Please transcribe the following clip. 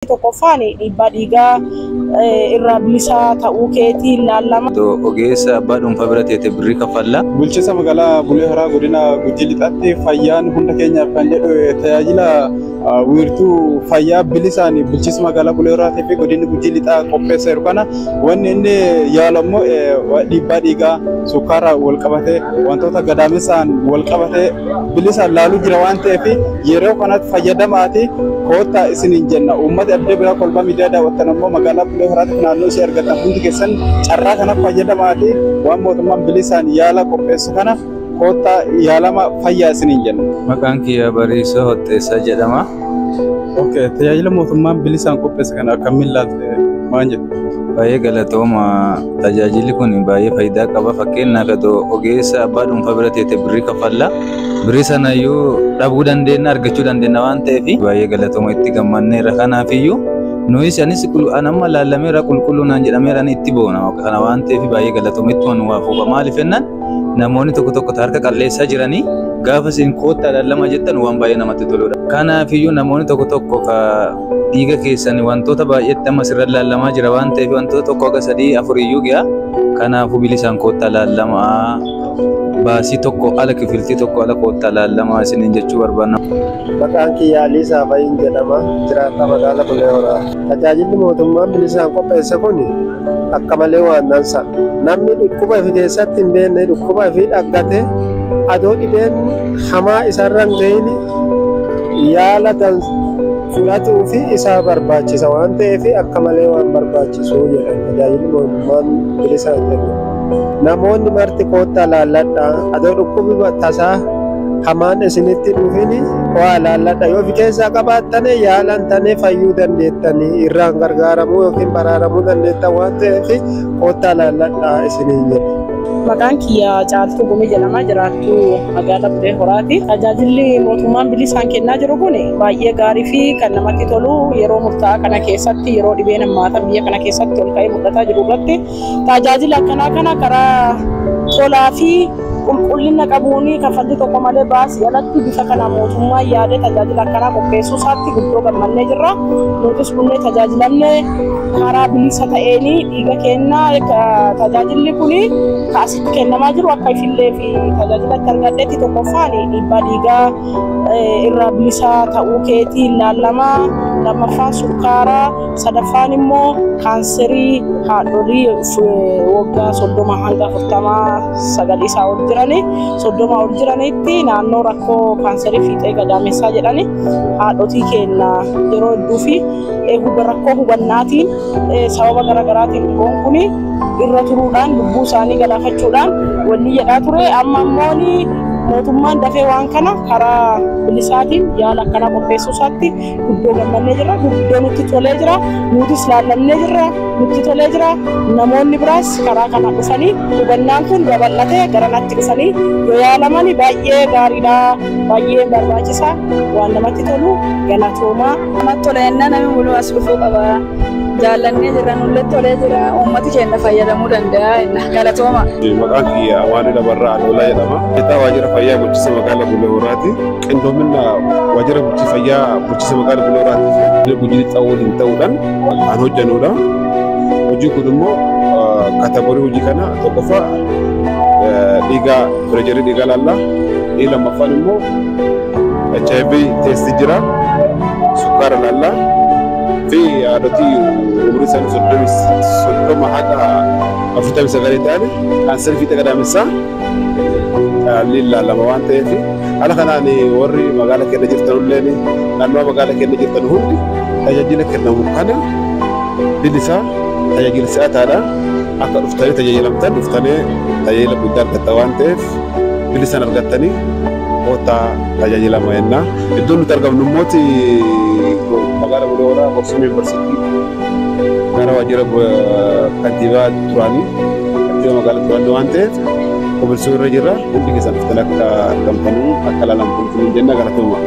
Inni tokkoffaan dhiibbaa dhiigaa eh, irraa bilisaa ta'uu keetiin laallama. Otoo ogeessa abbaa dhuunfaa bira teete birrii kaffalla. Bulchiinsa magaalaa Bulee Horaa godina Gujii Lixaatti fayyaan hunda keenyaaf kan jedhu eh, tajaajila ah, wiirtuu fayyaa bilisaan bulchiinsa magaalaa Bulee Horaatii fi godinni Gujii Lixaa qopheesseeru kana wanni inni yaalu ammoo eh, wa- dhiibbaa dhiigaa sukkaara wal qabatee wantoota gadaamessaan wal qabatee bilisaan laaluu jira waan ta'eef Yeroo kanatti fayyadamaatii koottaa isiniin jenna. Uummati addee biraa kolbaa miidiyaa daawwattan ammoo magaalaa Bulee Horaatiif naannoo ishee argattan hundi keessan carraa kanatti fayyadamaatii waan mootummaan bilisaan yaala qopheessu kana koottaa yaalama fayyaa isiniin jenna. Maqaan kiyya Bariisoo Hotteessaa jedhama. Okay, tajaajila mootummaan bilisaan qopheesse kana akkamiin laalte maal jettu? Baay'ee galatooma. Tajaajilli kun baay'ee faayidaa qaba. Fakkeenyaaf otoo ogeessa abbaa dhuunfaa bira teete birrii kaffalla. Birrii sana iyyuu dhabuu dandeenya argachuu dandeenya waan ta'eef baay'ee galatooma itti gammanneerra kanaaf iyyuu nuyis anis anamma laallameera qulqulluu naan jedhameera ani itti boona kana waan ta'eef baay'ee galatooma ittuma nu waa fuufa maaliif jennaan namoonni tokko tokko harka qalleessaa jiranii gaafa isin koottaa laallama jettan waan baay'ee namatti toludha. Kanaaf iyyuu namoonni tokko tokko dhiiga keessan wantoota baay'eetti amma sirra laallamaa jira waan ta'eef wantoota tokko haga sadii afuriyyuu gi'a kanaafuu bilisaan koottaa laallamaa baasii tokko ala kifiltii tokko ala koottaa laallamaa isiniin jechuu barbaanna. Maqaan kiyyaa Alii Saafayiin jedhama. Jiraataa magaalaa Bulee Horaa. Tajaajilli mootummaan bilisaan qopheesse kun akka malee waan dansa. Namni dhukkuba ifi keessatti hin beekne dhukkuba ifi dhaggate adoo dhibeen hamaa isarra hin ga'in yaala kan fudhatuu fi isaa barbaachisa waan ta'eef akka malee waan barbaachisu jedhan tajaajilli mootummaan bilisa jedhu. Namoonni marti koottaa laalladhaa adoo dhukkubi tasaa hamaan isinitti dhufin waa laalladha yoo fi keessaa qabaattane yaalan tane fayyuu dandeettanii irraan gargaaramuu yookiin baraaramuu dandeettan waan ta'eef koottaa laalladhaa isiniin jedha. Maqaan kiyya Caaltuu Gumii jedhama jiraattuu Magaalaa Bulee Horaati. Tajaajilli mootummaan bilisaan kennaa jiru kun baay'ee gaarii fi kan namatti tolu yeroo murtaa'aa kana keessatti yeroo dhibeen hammaataa biyya kana keessatti ol ka'ee mul'ataa jiru irratti tajaajila akkanaa kana karaa tolaa fi qulqullina qabuun kaffaltii tokko malee baasii alatti bifa kana mootummaan yaadee tajaajila akkanaa qopheessuu isaatti guddoo gammannee jirra. Nutis kunneen tajaajilamne karaa bilisa ta'een dhiiga kennaa tajaajilli kun kennamaa jiru akka ishillee fi tajaajila itti argadhetti tokkoffaan dhiibbaa dhiigaa irraa bilisaa ta'uu keetii ilaallama lammaffaan sukkaara sadaffaan immoo kaanserii haadholii waggaa soddoma hanga afurtamaa sagal isaa ol jirani soddoma ol jiranitti naannoo rakkoo kaanserii fiixee gadaamessaa jedhani haadhotii keenna yeroo hedduu fi rakkoo hubannaatiin sababa garaagaraatiin dhiboon kuni irra turuudhaan lubbuu isaanii galaafachuudhaan wanni jedhaa ture amma immoo mootummaan dafee waan kana karaa bilisaatiin yaala akkanaa qopheessuu isaatti guddoo gammannee jirra guddoo nutti tolee jira nutis laallamnee jirra nutti tolee jira namoonni biraas karaa kana dhufanii hubannaan kun babal'atee gara natti dhufanii yoo yaalaman baay'ee gaariidha baay'ee barbaachisaa waan namatti tolu galatoomaa. Namatti tola jennaan namni muluu as dhufuu qaba. jaallannee jirra nullee tolee jira uummati keenya fayyadamuu danda'a jenna galatooma. Maqaan kiyya Amaanuu Lamarraa Adoolaa jedhama. Hojjetaa waajjira fayyaa bulchiinsa magaalaa Bulee Horaati. Qindoomina waajjira bulchiinsa fayyaa bulchiinsa magaalaa Bulee Horaati gujiin ta'uu waliin ta'uudhaan kan hojjennudha. Hojiin kun immoo kaatagorii hojii kana tokkoffaa dhiigaa pireejarii dhiigaa laallaa inni lammaffaan immoo HIV teestii jira sukkaara laallaa. fi haadhotii umrii isaanii soddomii soddoma haga afurtamii sagalii ta'an kaansarii fiixee gadaamessaa caalliin laalama waan ta'eef haala kanaan warri magaala keenya jirtan illee naannoo magaala keenya jirtan hundi tajaajila kennamu kana bilisaa tajaajila si'ataadha akka dhuftanii tajaajilamtan dhuftanee tajaajila guddaa argatta waan ta'eef bilisaan argattanii Koottaa tajaajilama jenna. Iddoon nuti argamnu immoo magaala Bulee Horaa Boksumee Yuunivarsiitii gara waajjira kantiibaa duraanii kantiibaa magaalaa duraanii waan ta'eef qopheessuu irra jirra. Hundi keessan dhuftanii akka argamtanii akka ilaalamtan jenna galatooma.